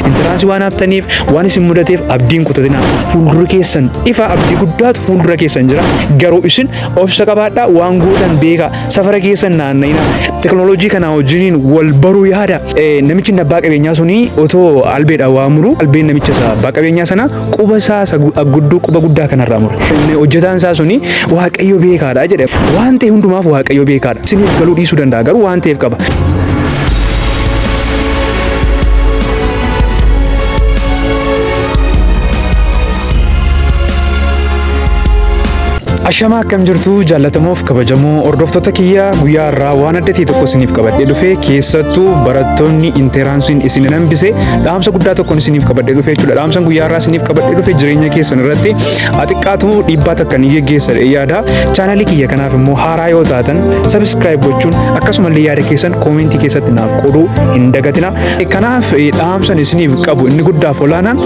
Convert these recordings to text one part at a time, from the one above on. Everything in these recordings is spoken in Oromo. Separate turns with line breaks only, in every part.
Intiraansi waan haftaniif waan isin mudateef abdiin kutatinaa fuuldurri keessan ifa abdii guddaatu fuuldura keessan jira garuu isin obsa qabaadhaa waan gootan beekaa safara keessan naanna'ina teknooloojii kanaa wajjiniin wal baruu yaada namichi abbaa qabeenyaa suni otoo albeedha waa muru albeen namicha abbaa qabeenyaa sana quba isaa isa gu- gudduu quba guddaa kanarraa mure. Inni hojjetaan isaa suni waaqayyo beekaadha jedhe. Waan ta'e hundumaaf waaqayyo beekaadha. Isiniif galuu dhiisuu danda'a garuu waan ta'eef qaba. Ashamaa akkam jirtu jaallatamoof kabajamoo hordoftoota kiyya guyyaa irraa waan adda ta'e tokko isiniif qabadhee dhufe keessattuu barattoonni interaansiin isin hin hambise Dhaamsa guddaa tokkoon isiniif qabadhee dhufe jechuudha. Dhaamsan guyyaa irraa isiniif qabadhee dhufe jireenya keessan irratti xiqqaatu dhiibbaa takka ni geggeessa yaada. Chaanalii kiyya kanaaf immoo haaraa yoo taatan sabiskiraayib gochuun akkasumallee yaada keessan koomentii keessatti naaf qooduu hin dagatina. Kanaaf dhaamsan isiniif qabu inni guddaaf olaanaa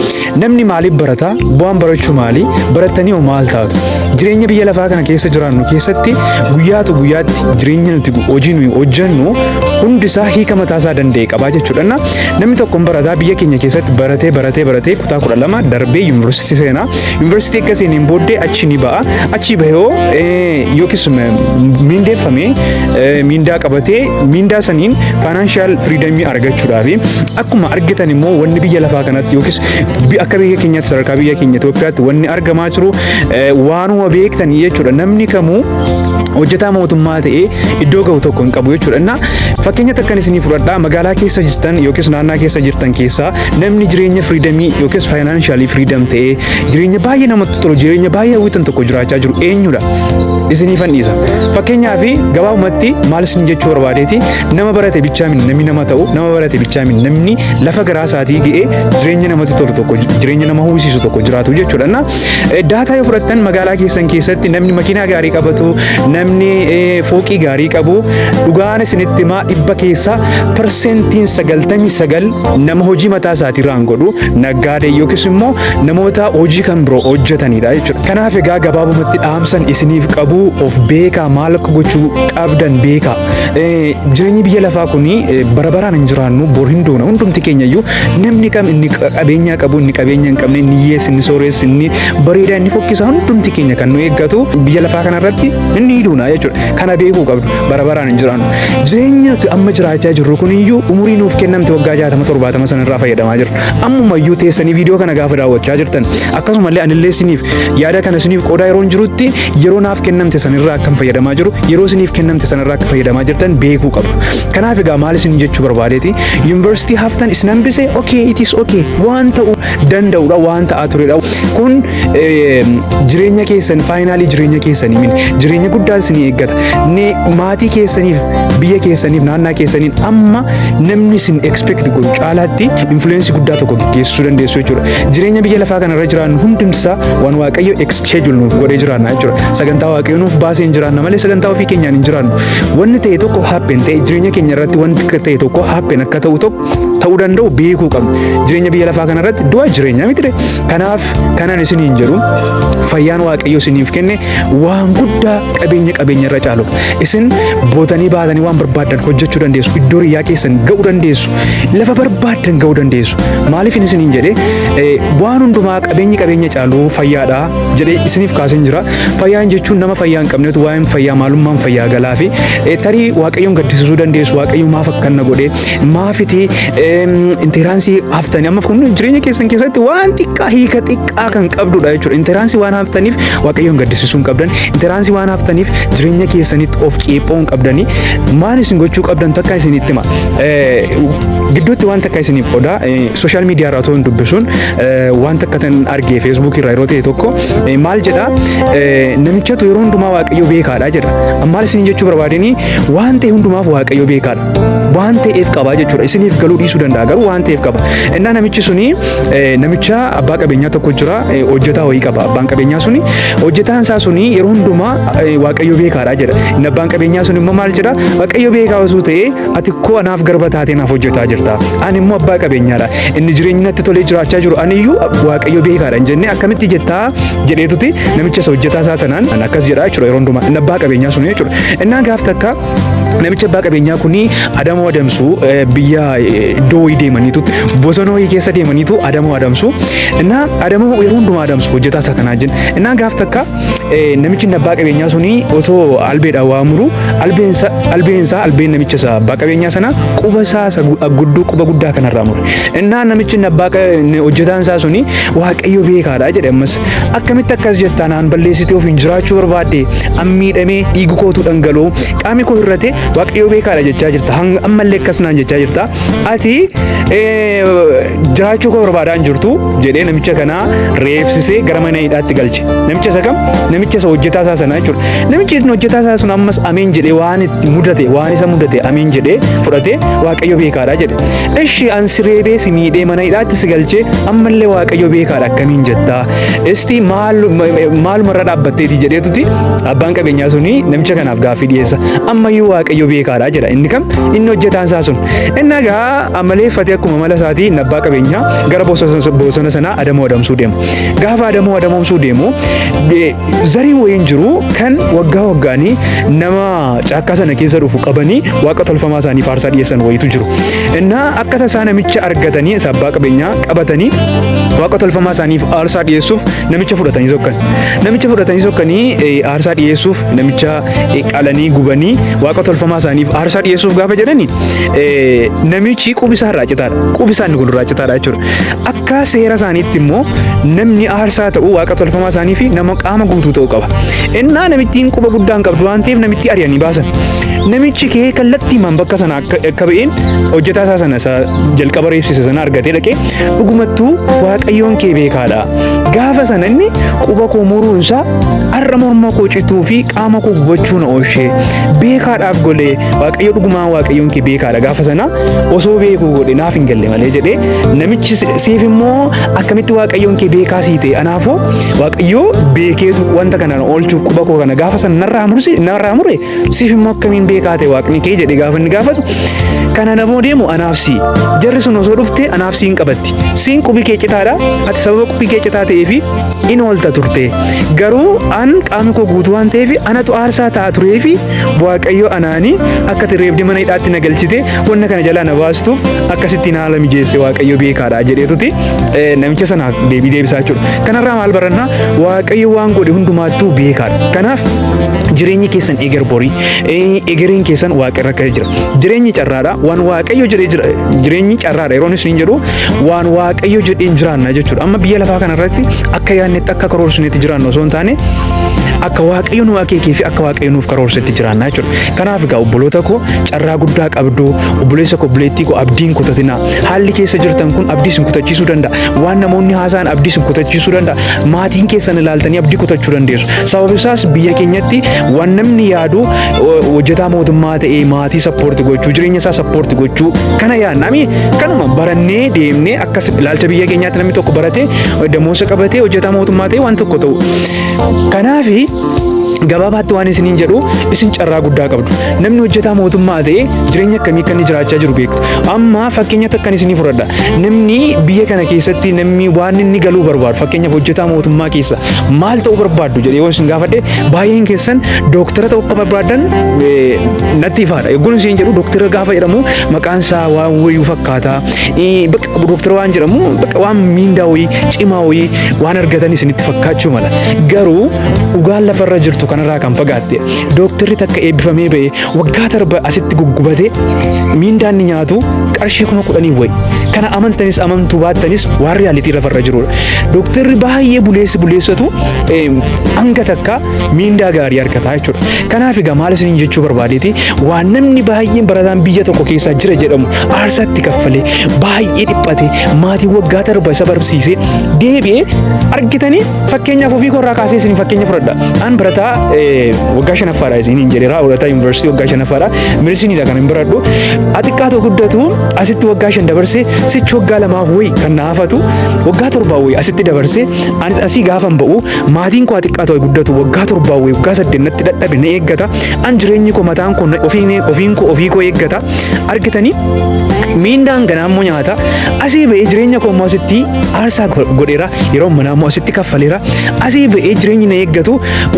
namni maaliif barata? Bu'aan barachuu maali? Barattanii hoo maal taatu? Jireenya biyya lafaa kana keessa jiraannu keessatti guyyaatu guyyaatti jireenya nuti hojii nuyi hojjennu hundi isaa hiika mataa isaa danda'e qabaa jechuudha. Namni tokko hin barataa biyya keenya keessatti baratee baratee baratee kutaa kudha lama darbee yuunivarsiitii seena. Yuunivarsiitii akka seeneen booddee achi ni ba'a. Achi bahee hoo eh, yookiis m- miindeeffamee eh, miindaa qabatee miindaa saniin faayinaanshaal firiidamii argachuudhaafi akkuma argitan immoo wanni biyya lafaa kanatti yookiis bi- akka biyya keenyaatti sadarkaa biyya keenya Itoophiyaatti wanni argamaa jiru eh, waanuma beektanii jechuudha. Namni kamuu hojjetaa mootummaa ta'ee iddoo ga'u tokko hin qabu jechuudha. Innaa fakkeenya takkan isinii fudhadhaa magaalaa keessa jirtan yookiis naannaa keessa jirtan keessaa namni jireenya firiidamii yookiis faayinaanshaali firiidam ta'ee jireenya baay'ee namatti tolu jireenya baay'ee hawwitan tokko jiraachaa jiru eenyudha? Isinii fanniisa. Fakkeenyaa fi gabaabumatti maal isin jechuu barbaadeeti nama barate bichaa min namni nama ta'u nama barate bichaa min namni lafa garaa isaatii ga'ee jireenya namatti tolu tokko jireenya nama hawwisiisu tokko jiraatu jechuudha. Innaa Daataa yoo fudhattan magaalaa keessan keessatti namni makiinaa gaarii qabatu, namni fooqii gaarii qabu, dhugaan isinitti himaa dhibba keessaa parsentiin sagaltamii sagal nama hojii mataa isaatii irraan godhu, naggaadee yookiis immoo namoota hojii kan biroo hojjetanidha jechuudha. Kanaaf egaa gabaabumatti dhaamsan isiniif qabu of beekaa maal akka gochuu qabdan beekaa. Jireenyi biyya lafaa kun bara baraan hin jiraannu bor hin duuna hundumti keenya iyyuu Namni kam inni qabeenyaa qabu inni qabeenya hin qabne inni hiyyeessi inni sooressi inni bareedaa inni fokkisa hundumti keenya kan nu eeggatu biyya lafaa kanarratti inni duuna jechuudha. Kana beekuu qabdu bara baraan hin jiraannu. Jireenya nuti amma jiraachaa jirru kun iyyuu umurii nuuf kennamte waggaa jaatama torbaatama sanarraa fayyadamaa jirra. Ammuma iyyuu teessanii viidiyoo kana gaafa daawwachaa jirtan akkasumallee anillee isiniif yaada kana isiniif qoodaa yeroon jirutti yeroo naaf kennamte sanirraa akkan fayyadamaa jiru yeroo isiniif kennamte sanarraa akka fayyadamaa jirtan beekuu qabdu. Kanaaf egaa maal isin jechuu barbaadeeti yuunivarsiitii haftan isin hambise okay it is okay waan ta'u danda'udha waan ta'aa turedha kun jireenya keessan faayinaalii jireenya keessanii miti jireenya guddaan isin eeggata maatii keessaniif biyya keessaniif naannaa keessaniin amma namni isin expect godhu caalaatti influence guddaa tokko geggeessuu dandeessu jechuudha jireenya biyya lafaa kanarra jiraannu hundumtisaa waan waaqayyo schedule nuuf godhee jiraanna jechuudha. Sagantaa waaqayyoo nuuf baasee hin jiraanna malee sagantaa ofii keenyaan hin jiraannu. Wanni ta'e tokko happen ta'e jireenya keenya irratti wanti ta'e tokko happen akka ta'u tokko ta'uu danda'u beekuu qabna. Jireenya biyya lafaa kana irratti du'a jireenya miti ta'e. Kanaaf kanan isin hin jedhu fayyaan waaqayyoo isiniif kenne waan guddaa qabeenya qabeenya irra caalu. Isin bootanii baatanii waan barbaaddan hojjechuu dandeessu. Iddoo riyyaa keessan ga'uu dandeessu. lafa barbaaddan ga'uu dandeessu. Maaliif inni isiniin jedhee eh, waan hundumaa qabeenyi qabeenya caalu fayyaadha jedhee isiniif kaaseen jira. Fayyaan jechuun nama fayyaa hin qabnetu waa'een fayyaa maalummaan fayyaa galaa fi eh, tarii waaqayyoon gaddisiisuu dandeessu waaqayyo maaf akkanna godhee maafiti intiraansii haftanii amma kun jireenya keessan keessatti waan xiqqaa hiika xiqqaa kan qabdudha jechuudha. Intiraansii waan haftaniif waaqayyoon gaddisiisuu hin qabdan. Intiraansii waan haftaniif jireenya keessanitti of ceephoo hin qabdanii maal isin gochuu qabdan takka isinitti hima. Gidduutti waan takka isiniif qodaa sooshaal miidiyaa irraa otoo hin dubbisuun waan takka tan argee feesbuukii irraa yeroo ta'e tokko maal jedha namichatu yeroo hundumaa waaqayyo beekaadha jedha. Maal isin jechuu barbaadanii waan ta'e hundumaaf waaqayyo beekaadha. Waan ta'eef qaba jechuudha. Isiniif galuu dhiisuu danda'a garuu waan ta'eef qaba. Innaa namichi suni namicha abbaa qabeenyaa tokko jira hojjetaa wayii qaba. Abbaan qabeenyaa suni hojjetaan isaa suni yeroo hundumaa Waaqayyo beekaadha jedha. Inni abbaan qabeenyaa sun immoo maal jedha? Waaqayyo beekaa osoo ta'ee ati koo anaaf garba taatee naaf hojjetaa jirta. Ani immoo abbaa qabeenyaadha. Inni jireenyi natti tolee jiraachaa jiru ani iyyuu waaqayyo beekaadha hin jennee akkamitti jettaa jedheetuti namicha isa hojjetaa isaa sanaan ani akkas jedha jechuudha yeroo hundumaa inni abbaa qabeenyaa sun jechuudha. Innaan gaaf takka namicha abbaa qabeenyaa kuni adamoo adamsu biyya iddoo wayii deemaniitu bosona wayii keessa deemaniitu adamoo adamsu. Innaa adamoo yeroo hundumaa adamsu hojjetaa isaa kanaa jenna. Innaan gaaf takka namichi inni abbaa qabeenyaa suni otoo albeedhaan waa muru albeen sa- albeen isaa albeen namicha isaa abbaa qabeenyaa sana quba isaa isa gu- guddoo quba guddaa kanarraa mure innaa namichi inni abbaa qa- inni hojjetaan isaa suni waaqayyo beekaadha jedhe ammas akkamitti akkas jettaa naan balleessitee ofiin jiraachuu barbaadde an miidhamee dhiigu kootu dhangala'u qaami koo irrate waaqayyo beekaadha jechaa jirta hanga ammallee akkas naan jechaa jirta ati eh, jiraachuu koo barbaadaan jirtu jedhee namicha kanaa reebsisee gara mana hidhaatti galche. Namicha isa kam? Namicha isa hojjetaa isaa sana jechuudha. Namichi inni hojjetaa isaa sun ammas ameen jedhee waan itti mudate waan isa mudate ameen jedhee fudhatee waaqayyo beekaadha jedhe. Ishi an si reebee si miidhee mana hidhaatti si galchee ammallee waaqayyo beekaadha akkamiin jettaa? Isti maaluma irra dhaabbatteeti jedheetuti abbaan qabeenyaa suni namicha kanaaf gaaffii dhiyeessa. Ammayyuu waaqayyo beekaadha jedha inni kam? Inni hojjetaan isaa sun. Inni egaa amaleeffatee akkuma mala isaatii inni abbaa qabeenyaa gara bosona sanaa adamoo adamsuu deema. Gaafa adamoo adamoomsuu deemu zariin wayiin jiru kan waggaa waggaanii nama caakkaa sana keessa dhufu qabanii waaqa tolfamaa isaanii faarsaa dhiyeessan wayiitu jiru. Innaa akka tasaa namicha argatanii isa abbaa qabeenyaa qabatanii waaqa tolfamaa isaaniif aarsaa dhiyeessuuf namicha fudhatanii sokkan. Namicha fudhatanii sokkanii aarsaa dhiyeessuuf namicha qalanii gubanii waaqa tolfamaa isaaniif aarsaa dhiyeessuuf gaafa jedhani namichi qubisaa irraa citaadha. Qubisaan kun irraa citaadha jechuudha. Akka seera isaaniitti immoo namni aarsaa ta'u waaqa tolfamaa isaanii fi nama qaama guutuu ta'uu qaba. Innaa namittiin quba guddaan qabdu waan ta'eef namittii ari'anii baasan. Namichi kee kallattiimaan bakka sana akka akka ba'een hojjetaa isaa sana isa jalqaba reebsise sana argatee dhaqee dhugumattuu waaqayyoon kee beekaadha. Gaafa sana inni quba koo muruun isaa har'a morma koo cituu fi qaama koo gubachuu na oolchee beekaadhaaf golee waaqayyo dhugumaan waaqayyoon kee beekaadha gaafa sana osoo beekuu godhe naaf hin galle malee jedhee Namichi siif immoo akkamitti waaqayyoon kee beekaa sii ta'e anaafoo waaqayyoo beekeetu wanta kana oolchuuf quba koo kana gaafa sana narraa mursi narraa mure siif immoo akkamiin beekaa ta'e waaqni kee jedhe gaafa inni gaafatu kan anaafoo deemu anaaf sii jarri sun osoo dhufte anaaf siin qabatti siin qubi kee citaadha ati sababa qubi kee citaa ta'ee fi in oolta turte garuu an qaamni koo guutuu waan ta'eef anatu aarsaa ta'a turee fi Waaqayyo anaani akkati reebde mana hidhaatti na galchite wanna kana jalaa na baastuuf akkasitti na haala mijeesse waaqayyo beekaadha jedheetuti eh, namicha sanaaf deebii deebisaa jechuudha. Kanarraa maal barannaa waaqayyo waan godhe hundumaattuu beekaadha. Kanaaf jireenyi keessan eger borii eh, egereen keessan waaqarra akka jira. Jireenyi carraadha waan waaqayyo jedhee jira jireenyi carraadha yeroon isin jedhu waan waaqayyo jedheen jiraanna jechuudha. Amma biyya lafaa kanarratti akka yaadnetti akka karoorsinetti jiraannu osoo hin taane akka waaqayyo nu akeekee fi akka waaqayyo nuuf karoorsetti jiraannaa jechuudha. Kanaaf egaa obboloota koo carraa guddaa qabdu obboleessa koo obboleettii koo abdii hin kutatinaa. Haalli keessa jirtan kun abdii isin kutachiisuu danda'a. Waan namoonni haasa'an abdii isin kutachiisuu danda'a. Maatiin keessan ilaaltanii abdii kutachuu dandeessu. Sababni isaas biyya keenyatti waan namni yaadu o- hojjetaa mootummaa ta'ee maatii sappoorti gochuu jireenya isaa sappoorti gochuu kana yaadna. Ami kanuma barannee deemnee akkas ilaalcha biyya keenyaatti namni tokko baratee damoosa qabatee hojjetaa mootummaa ta'ee waan tokko ta'u. Kanaafi Gabaabaatti waan isiniin jedhu isin carraa guddaa qabdu. Namni hojjetaa mootummaa ta'e jireenya akkamii akka inni jiraachaa jiru beektu. Amma fakkeenya takkan isinii fudhadha. Namni biyya kana keessatti namni waan inni galuu barbaadu fakkeenyaaf hojjetaa mootummaa keessa maal ta'uu barbaaddu jedhee yoo isin gaafadhe baay'een keessan dooktara ta'uu akka barbaadan eh, natti ifaadha. Yogguun isin jedhu dooktara gaafa jedhamu maqaan isaa waan wayuu fakkaata. bakka qabu dooktara waan jedhamu bakka waan miindaa wayii cimaa wayii waan argatan isinitti fakkaachuu mala garuu dhugaan lafarra jirtu kanarraa kan fagaatte dooktarri takka eebbifamee ba'e waggaa darba asitti guggubate miindaan ni nyaatu qarshii kuma kudhanii wayi kana amantanis amantuu baattanis waan riyaalitii lafarra jirudha dooktarri baay'ee buleessi buleessatu hanga takka miindaa gaarii argataa jechuudha kanaaf egaa maal isiniin jechuu barbaadeeti waan namni baay'een barataan biyya tokko keessaa jira jedhamu aarsaa itti kaffalee baay'ee dhiphatee maatii waggaa darba isa barsiisee deebi'ee argitanii fakkeenyaaf ofii korraa kaasee isin fakkeenya fudhadha. An barataa eh, waggaa shanaffaadha isin hin jedheera barataa yuunivarsiitii waggaa shanaffaadha medisiniidha kan hin baradhu. Xiqqaa ta'u guddatu asitti waggaa shan dabarsee sichi waggaa lamaaf wayi kan na hafatu waggaa torbaa wayi asitti dabarsee anis asii gaafan ba'u maatiin koo xiqqaa ta'u guddatu waggaa torbaa wayi waggaa saddeet natti dadhabe na eeggata an jireenyi koo mataan koo na- ofiin ofiin koo ofii koo eeggata. argitanii miindaan ganaa immoo nyaata asii ba'ee jireenya koo immoo asitti aarsaa go- godheera yeroo manaa immoo asitti kaffaleera asii ba'ee jireenyi na eeggatu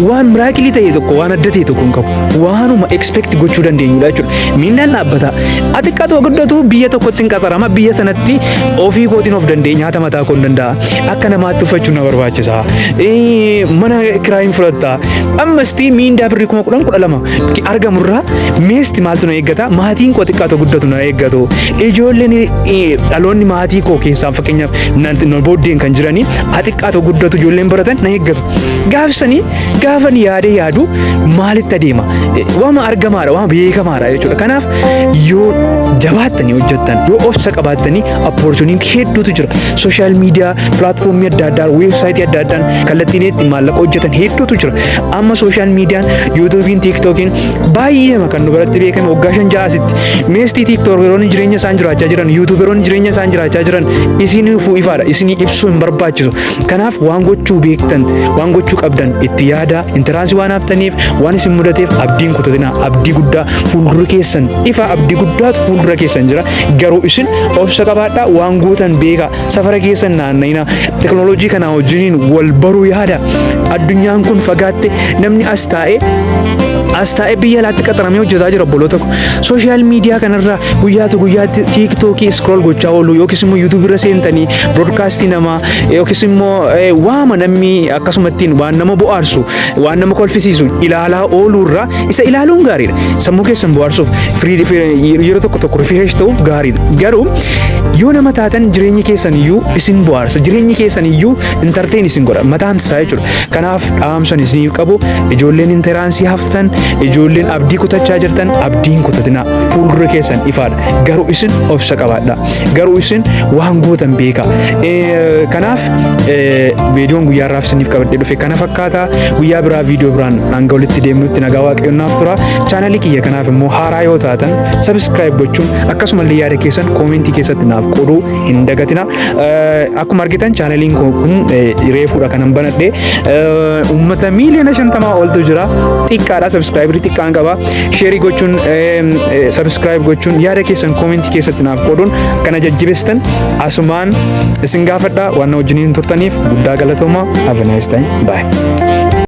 waan miraakilii ta'e tokko waan adda ta'e tokko hin qabu waanuma expect gochuu dandeenyudha jechuudha miindaan dhaabbata ati xiqqaatu haa guddatu biyya tokkotti hin qaxarama biyya sanatti ofii kootiin of danda'e nyaata mataa koo hin danda'a akka namaatti uffachuu na barbaachisa Eh, mana kiraa hin fudhatta ammastii miindaa birrii kuma kudhan kudha lama argamu irraa meesti maaltu na eeggata maatiin koo xiqqaa ta'u guddatu na eeggatu ijoolleen dhaloonni maatii koo keessaa fakkeenyaaf na booddeen kan jiranii haa xiqqaa ta'u guddatu ijoolleen baratan na eeggatu gaafsanii gaafan yaadee yaadu maalitti adeema waama argamaadha waama beekamaadha jechuudha kanaaf yoo jabaattanii hojjettan yoo obsa qabaattanii opportunity hedduutu jira sooshaal miidiyaa pilaatfoomii adda addaa weebsaayitii adda addaan kallattiin itti maallaqa hojjetan hedduutu jira Amma sooshaal miidiyaan yuutuubiin tiiktookiin baay'eema kan nu biratti beekame waggaa shan ja'a asitti meestii tiiktookeroonni jireenya isaan jiraachaa jiran yuutuuberoonni jireenya isaan jiraachaa jiran isiniifuu ifaadha isinii ibsuu hin barbaachisu kanaaf waan gochuu beektan waan gochuu qabdan itti yaadaa intiraansi waan haftaniif waan isin mudateef abdiin kutatinaa abdii guddaa fuuldura keessan ifa abdii guddaatu fuuldura keessan jira garuu isin obsa qabaadhaa waan gootan beekaa Safara keessa hin naanna'inaa. Teknooloojii kanaa wajjiniin wal baruu yaada. Addunyaan kun fagaatte namni as taa'ee as taa'ee biyya alaatti qaxaramee hojjetaa jira obboloota ko. Sooshaal miidiyaa kanarraa guyyaatu guyyaatti tiiktookii iskrool gochaa oolu yookiis immoo yuutuubii irra seentanii biroodkaastii namaa yookiis immoo eh, waama namni akkasumattiin waan nama bohaarsu waan nama kolfisiisu ilaalaa ooluurraa Isa ilaaluun gaariidha. Sammuu keessan bohaarsuuf firii- fi- yeroo tokko tokko rifresh ta'uuf gaariidha. Garuu yoo nama taatan jireenyi keessan iyyuu isin bohaarsa. Jireenyi keessan iyyuu intarteen isin godha. Mataan isaa jechuudha. Kanaaf dhaamsan isiniif qabu ijoolleen intaraansii haftan ijoolleen abdii kutachaa jirtan abdii hin kutatinaa. Fuuldura keessan ifaadha. Garuu isin obsa qabaadha. Garuu isin waan gootan beekaa. Eh, Kanaaf eh, viidiyoon guyyaa har'aaf isiniif qabadhee dhufe kana fakkaata. fakkaata guyyaa biraa viidiyoo biraan hanga walitti deemnutti nagaa waaqayyoon naaf tura chaanalii kiyya kanaaf immoo haaraa yoo taatan sabiskiraayib gochuun akkasumallee yaada keessan koomentii keessatti naaf qooduu hin dagatina akkuma argitan chaanaliin kun reefuudha kanan banadhe uummata miiliyoona shantamaa oltu jira xiqqaadha sabiskiraayibirii xiqqaan qaba sheerii gochuun sabiskiraayib gochuun yaada keessan koomentii keessatti naaf qooduun kana jajjibestan asumaan isin gaafadha waan na wajjiniin turtaniif guddaa galatoomaa have a nice time bye.